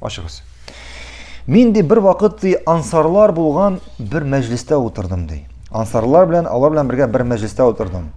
Ачыгыз. Мин ди бер вакыт ди ансарлар булган бер мәҗлестә утырдым ди. Ансарлар белән алар белән бергә бер мәҗлестә утырдым.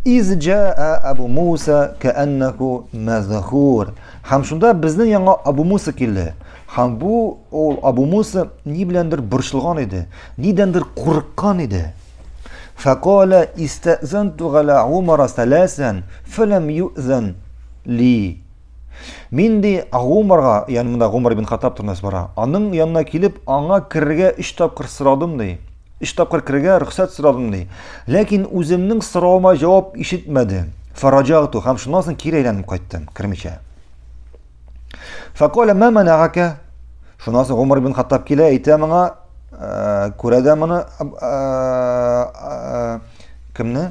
Из җаа Абу Муса кәаннаху мазхур. Һәм шунда безнең яңа Абу Муса килде. Һәм бу ул Абу Муса ни беләндер борчылган иде, нидәндер курыккан иде. Факала истазанту гала Умара саласан фалам юзан ли. Мин ди Гумарга, ягъни монда Гумар ибн Хаттаб турында бара. Аның янына килеп, аңа керергә өч тапкыр сорадым ди. Өч тапкыр керергә рөхсәт сорадым ди. Ләкин үземнең соравыма җавап ишетмәде. Фараҗагту һәм шуннан соң кире әйләнеп кайттым, кермичә. Факоля ма манагака? Шуннан соң Гумар ибн Хаттаб килә, әйтә моңа, күрә дә моны кемне?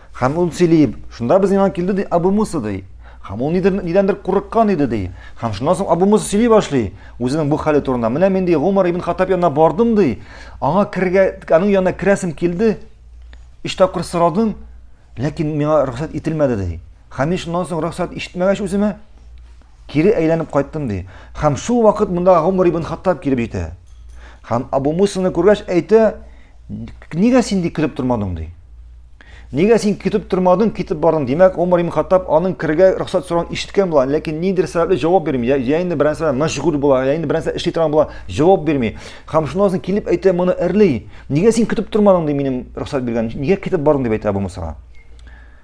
Һәм ул сөйли, шунда без яңа килде, ди, Абу Муса, ди. Һәм ул нидер, нидәндер курыккан иде, ди. Һәм шуннан соң Абу Муса сөйли башлый, үзенең бу хәле турында. Менә мин, ди, Гомар ибн Хаттаб янына бардым, ди. Аңа кергә, аның янына керәсем килде. Өч тапкыр сорадым, ләкин миңа рөхсәт ителмәде, ди. Һәм мин шуннан соң рөхсәт ишетмәгәч үземә, Кире әйләнеп кайттым, ди. Һәм шул вакыт монда Гомар ибн Хаттаб килеп җитә. Һәм Абу Мусаны күргәч әйтә, нигә син ди кереп тормадың, ди. Нигә син китеп тормадың, китеп бардың? Димәк, Умар ибн Хаттаб аның кергә рөхсәт сорауын ишеткән була, ләкин ниндидер сәбәпле җавап бирми. Я, я инде берәр сәбәп мәшгуль була, я инде берәр сәбәп эшли торган була, җавап бирми. Һәм шуннан соң килеп әйтә моны эрли. Нигә син китеп тормадың ди минем рөхсәт биргән? Нигә китеп бардың дип әйтә Абу Мусага.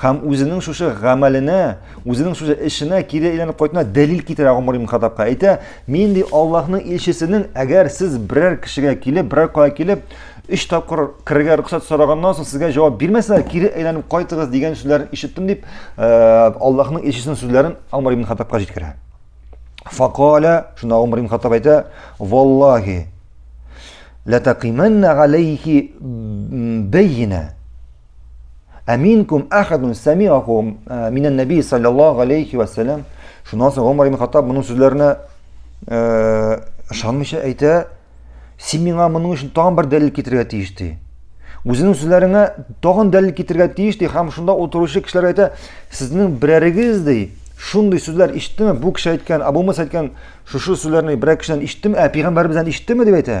Хәм үзенең шушы гамәленә, үзенең шушы эшенә кире әйләнеп кайтына дәлил китерә Гомар ибн Хаттабка. Әйтә, мин ди Аллаһның илчесенең, әгәр сез берәр кешегә килеп, берәр кая килеп, өч тапкыр керергә рөхсәт сораганнан соң сезгә җавап бирмәсә, кире әйләнеп кайтыгыз дигән сүзләрен ишеттем дип, э, Аллаһның илчесенең сүзләрен Гомар ибн Хаттабка җиткерә. Факаля, шунда Гомар ибн Хаттаб әйтә, "Валлаһи, латакиманна алейхи бәйина" Аминкум ахадун самиаху э, минан наби саллаллаху алейхи вассалам. Шуннан соң Умар ибн Хаттаб моның сүзләренә э, ышанмыйча әйтә, син миңа моның өчен тагын бер дәлил китерергә тиеш ди. Үзенең сүзләреңә тагын дәлил китерергә тиеш ди һәм шунда утыручы кешеләр әйтә, сезнең берәрегез ди, шундый сүзләр ишеттеме? Бу кеше әйткән, Абу Муса әйткән шушы сүзләрне берәр кешедән ишеттеме? Ә пәйгамбәребездән ишеттеме дип әйтә.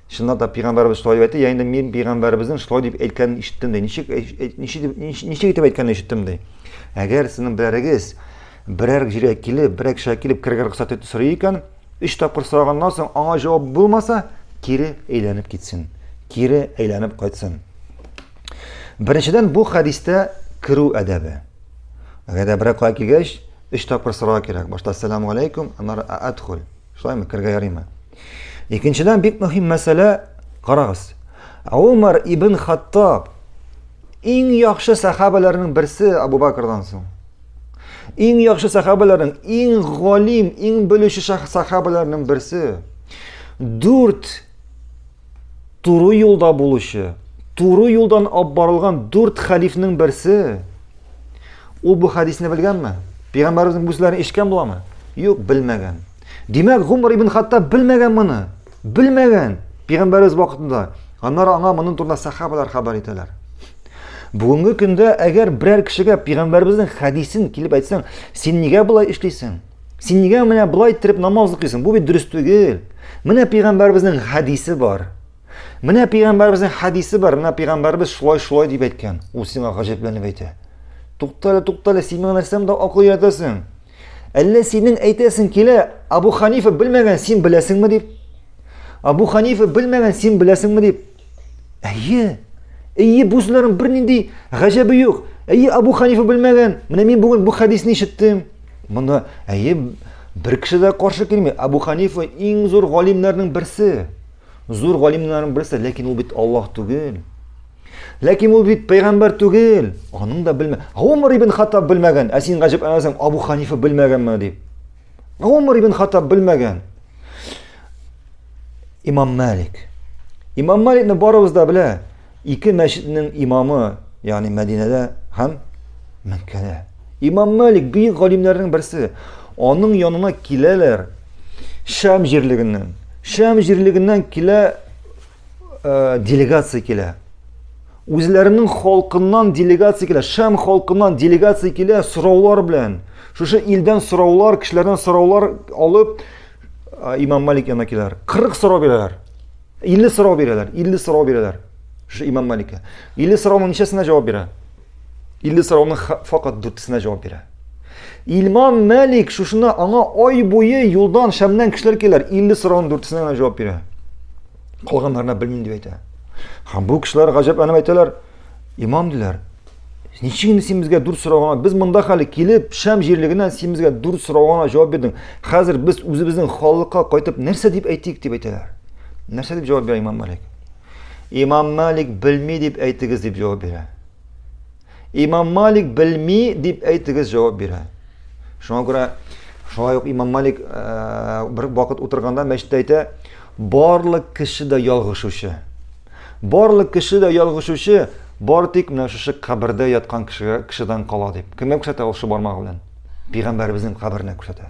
Чыннан да пигамбәрбез шулай әйтте, я инде мин пигамбәрбезнең шулай дип әйткәнен ишеттем ди. Ничек ничек ничек итеп әйткәнен ишеттем ди. Әгәр сезнең берәрегез берәр җиргә килеп, берәр кешегә килеп кергән рөхсәт итеп сорый икән, өч тапкыр сораганнан соң аңа җавап булмаса, кире әйләнеп китсен. Кире әйләнеп кайтсын. Беренчедән бу хәдистә керү әдәбе. Әгәр дә берәр кая килгәч, өч тапкыр сорау кирәк. Башта салам алейкум, аннары адхул. Шулаймы, кергә ярыймы? Икенчедән бик мөһим мәсьәлә, карагыз. Умар ибн Хаттаб иң яхшы сахабаларның берсе Абу Бакрдан соң. Иң яхшы сахабаларның, иң галим, иң белүче сахабаларның берсе. Дүрт Туры юлда булучы, туры юлдан алып барылган дүрт хәлифнең берсе. Ул бу хәдисне белгәнме? Пәйгамбәребезнең бу сүзләрен ишеткән буламы? Юк, белмәгән. Димәк, Гумар ибн Хаттаб белмәгән моны. Белмәгән. Пәйгамбәребез вакытында. Аннары аңа моның турында сахабалар хәбәр итәләр. Бүгенге көндә әгәр берәр кешегә пәйгамбәребезнең хәдисен килеп әйтсәң, син нигә болай эшлисең? Син нигә менә болай иттереп намаз укыйсың? Бу бит дөрес түгел. Менә пәйгамбәребезнең хәдисе бар. Менә пәйгамбәребезнең хәдисе бар. Менә пәйгамбәребез шулай шулай дип әйткән. Ул сиңа гаҗәпләнеп әйтә. Туктале, туктале, син миңа нәрсәм дә акыл өйрәтәсең. Әллә синең әйтәсең килә, Абу Ханифа белмәгән, син беләсеңме дип? Абу Ханифа белмәгән, син беләсеңме дип? Әйе. Әйе, бу сүзләрнең бернинди гаҗәбе юк. Әйе, Абу Ханифа белмәгән. Менә мин бүген бу хәдисне ишеттем. Монда әйе бер кеше дә каршы килми. Абу Ханифа иң зур галимнәрнең берсе. Зур галимнәрнең берсе, ләкин ул бит Аллаһ түгел. Ләкин ул бит пәйгамбер түгел. Аның да белмә. Умар ибн Хаттаб белмәгән. Ә син гаҗәп әнәсең, Абу Ханифа белмәгәнме дип. Умар ибн Хаттаб белмәгән. Имам Малик. Имам Маликны барыбыз да белә. Ике мәчетнең имамы, ягъни Мәдинәдә һәм Мәккәдә. Имам Малик бөек галимнәрнең берсе. Аның янына киләләр Шәм җирлегеннән. Шәм җирлегеннән килә э, делегация килә. Үзләренең халкыннан делегация килә, Шәм халкыннан делегация килә сораулар белән. Шушы илдән сораулар, кешеләрдән сораулар алып э, Имам Малик янына киләләр. 40 сорау бирәләр. 50 сорау бирәләр, 50 сорау бирәләр. Шушы Имам Маликка. 50 сорауның ничәсенә җавап бирә? 50 сорауның факат дүртесенә җавап бирә. Илмам Мәлик шушына аңа ай буе юлдан шәмнән кешеләр киләр, 50 сорауның дүртесенә генә җавап бирә. Калганнарына белмим дип әйтә. Һәм бу кешеләр гаҗәпләнеп әйтәләр, имам диләр, ничек инде син безгә дүрт сорауга, без монда хәле килеп, шәм җирлегеннән син безгә дүрт сорауга җавап бирдең. Хәзер без үзебезнең халыкка кайтып нәрсә дип әйтик дип әйтәләр. Нәрсә дип җавап бирә имам Мәлик? Имам Малик белми дип әйтегез дип җавап бирә. Имам Малик белми дип әйтегез җавап бирә. Шуңа күрә шулай ук Имам Малик э, бер вакыт утырганда мәчеттә әйтә, барлык кеше дә ялгышучы. Барлык кеше дә ялгышучы, бар тик менә шушы кабердә яткан кешегә кешедән кала дип. Кемгә күрсәтә ул шул бармагы белән? Пәйгамбәребезнең каберенә күрсәтә.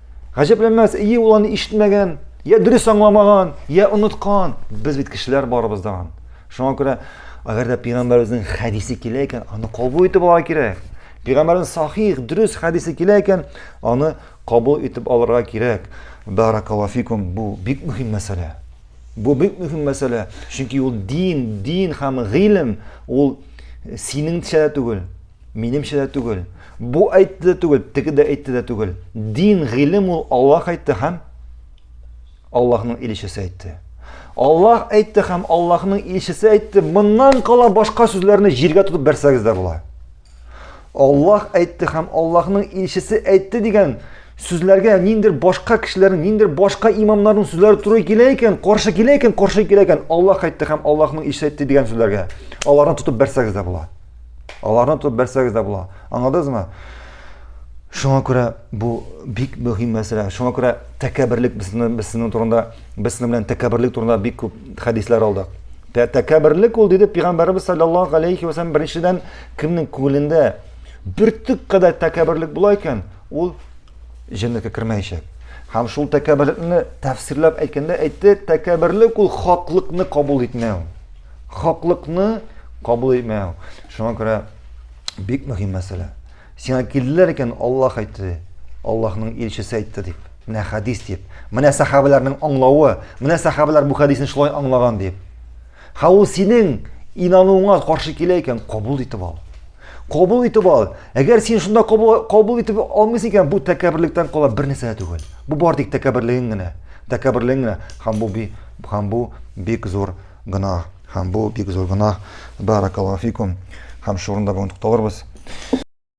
Гаҗәпләнмәс, ие ул аны ишетмәгән, я дөрес аңламаган, я оныткан. Без бит кешеләр барыбыз да. Шуңа күрә, әгәр дә пигамбәребезнең хәдисе килә икән, аны кабул итеп алырга кирәк. Пигамбәрнең сахих, дөрес хәдисе килә икән, аны кабул итеп алырга кирәк. Баракалафикум, бу бик мөһим мәсьәлә. Бу бик мөһим мәсьәлә, чөнки ул дин, дин һәм гыйлем, ул синеңчә түгел. Минемчә дә түгел. Бу әйтте дә түгел, теге дә әйтте дә түгел. Дин, гыйлем ул Аллаһ әйтте һәм Аллаһның илчесе әйтте. Аллаһ әйтте һәм Аллаһның илчесе әйтте. Моннан кала башка сүзләрне җиргә тотып бәрсәгез дә була. Аллаһ әйтте һәм Аллаһның илчесе әйтте дигән сүзләргә ниндер башка кешеләрнең, ниндер башка имамнарның сүзләре туры килә икән, каршы килә икән, каршы килә икән, Аллаһ әйтте һәм Аллаһның илчесе әйтте дигән сүзләргә. Аларны тотып бәрсәгез дә була. Аларны тотып бәрсәгез дә була. Аңладыңызмы? Шуңа күрә бу бик мөһим мәсьәлә. Шуңа күрә тәкәбберлек безнең безнең турында, безнең белән тәкәбберлек турында бик күп хәдисләр алдык. Тәкәбберлек ул диде пәйгамбәрбез саллаллаһу алейхи ва саллям беренчедән кемнең күңелендә бөртек кадәр тәкәбберлек була икән, ул җәннәткә кермәячәк. Һәм шул тәкәбберлекне тәфсирләп әйткәндә әйтте, тәкәбберлек ул хаклыкны кабул итмәү. Хаклыкны кабул итмәү. Шуңа күрә бик мөһим мәсьәлә. Сиңа килделәр икән, Аллаһ әйтте, Аллаһның илчесе әйтте дип. Менә хәдис дип. Менә сахабаларның аңлавы, менә сахабалар бу хәдисне шулай аңлаган дип. Ха ул синең инануыңа каршы килә икән, кабул итеп ал. Кабул итеп ал. Әгәр син шунда кабул, кабул итеп алмыйсың икән, бу тәкәбберлектән кала бер нәрсә түгел. Бу бар тик тәкәбберлегең генә. Тәкәбберлегең генә. Һәм бу һәм бу бик зур Гөнаһ. Һәм бу бик зур гөнаһ. Бәарәкәллаһу фикум. Һәм шул урында бүген тукталырбыз.